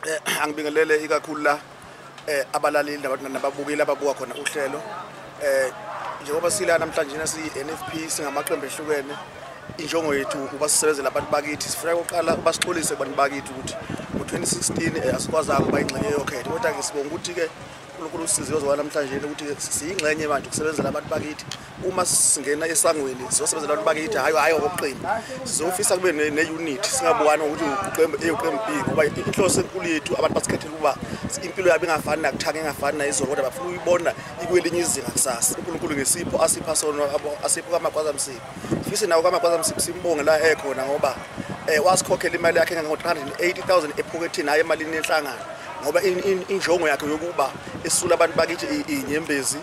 eh, angibingelele ikakhulu la eh, abalaleli nababukeli ababuka khona uhlelo eh, njengoba sila namhlanje na siyi-nfp singamaqembu ehlukene injongo yethu ukuba sisebenzele abantu bakithi sifuna kuqala ukuba sixolise kubantu bakithi ukuthi ngo-2016 eh, asikwazanga ukuba ingxenye yokhetho kodwa-ke sibonga ukuthi-ke unkulunkulu usiziwe zowa namhlanje ukuthi siyingxenye manje ukusebenzela abantu bakithi uma singena esangweni sizosebenzela abantu bakithi hhayi hhayi ngokoqembu sizofisa kube ne-unit singabukani ngokuthi uqembu a uqembu b ngoba inhloso enkulu yethu abantu basikhethela ukuba impilo yabo ingafani nakuthanga engafani nayizolo kodwa bafuna uyibona ikwelinye izinga kusasa unkulunkulu ngesipho asipha sona asipho kamagwaza msibi fise nawo kamagwaza msibi simbonge la ekhona ngoba um wasikhokhela imali yakhe engango-three hundred and eighty thousand ephokethini hhayi emalini yenhlangano ngoba injongo yakhe yokuba esula abantu bakithi inyembezi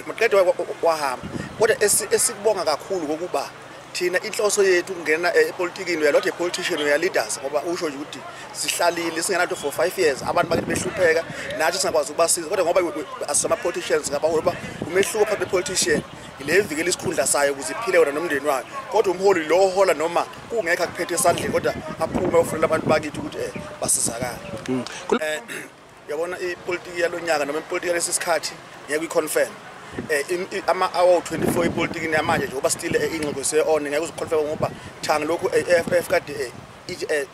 maqede wahamba kodwa esikubonga kakhulu kokuba thina inhloso yethu kungena eh, epolitikini uya lot a politician uya leaders ngoba usho nje ukuthi sihlalile singenanto for 5 years abantu bakithi behlupheka nathi singakwazi ukubasiza kodwa ngoba asama politicians ngaba ngoba umehluko phakathi politician ile evikela isikhundla sayo ukuze iphile wona nomndeni wayo kodwa umholi lo ohola noma kungekho akuphethe esandleni kodwa aphume ofunela abantu bakithi ukuthi eh basizakala hmm. eh, Yabona ipolitiki yalonyaka noma ipolitiki yalesi sikhathi ngeke uyiconfirm. Eh ama hour 24 ipolitiki namanje nje uba still eh, ingxoxo se on ngeke uziconfirm ngoba thanga lokhu AFF eh, kade eh, Eh,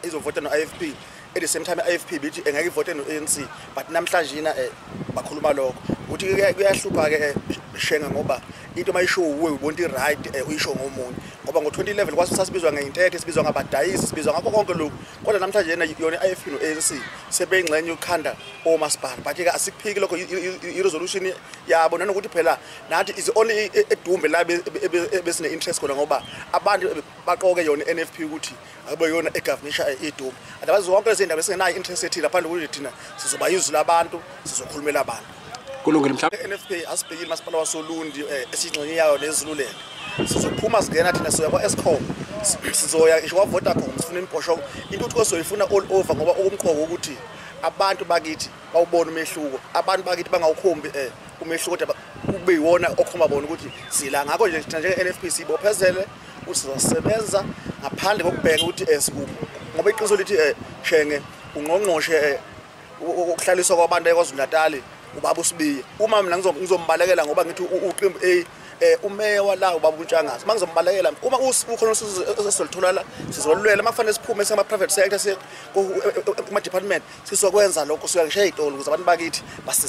izovota no-ifp at the same time i-ifp bithi eh, engeke ivote no-anc but namhlanje yina eh, bakhuluma lokho ukuthi kuyahlupha-ke shenga ngoba into uma isho uwe ubonta i-right uyisho ngomunye ngoba ngo-2011 kwasasibizwa ngeyintethe sibizwa ngabadayisi sibizwa ngakho konke lokhu kodwa namhlanje yena yona i-ifp no-anc sebeyingxenye yokukhanda omasipala but-ke asikuphiki lokho i-resolution yabo nanokuthi phela nathi is only edumbe la ebesine-interest khona ngoba abantu baqoke yona i-n f p ukuthi akube yona egavunisha idumbe adabazi zonke lezi ndaba esingenayo i-interest ethile ngaphandle kokuthi thina sizoba yizwi labantu sizokhulumela abantu kulungile mhlawumbe NFP asibhekile masipala wasolundi eh, esingxenye yayo nezilulele sizophuma singena thina soya kwa Escom sizoya ngisho kwa Vodacom sifuna imibhosho intuthuko soyifuna all over ngoba okumqoko ukuthi abantu bakithi bawubona umehluko abantu bakithi bangawukhombi eh umehluko kodwa kube yiwona okhomba bona ukuthi sila ngakho nje thina njenge NFP sibophezele ukuthi sizosebenza ngaphandle kokubheka ukuthi esikuphi eh, ngoba iqiniso lithi eh shenge ungqongqoshe eh, ukuhlaliswa kwabantu eKwaZulu-Natali ubaba uSibiya uma mina ngizombalekela ngoba ngithi uqembu A eh umeya wala ubaba uNtshangazi mangizombalekela uma ukhona usizolithola la sizolulwela makufanele siphume sema private sector kuma department sizokwenza lokho siyakushiya izitolo ukuze abantu bakithi basize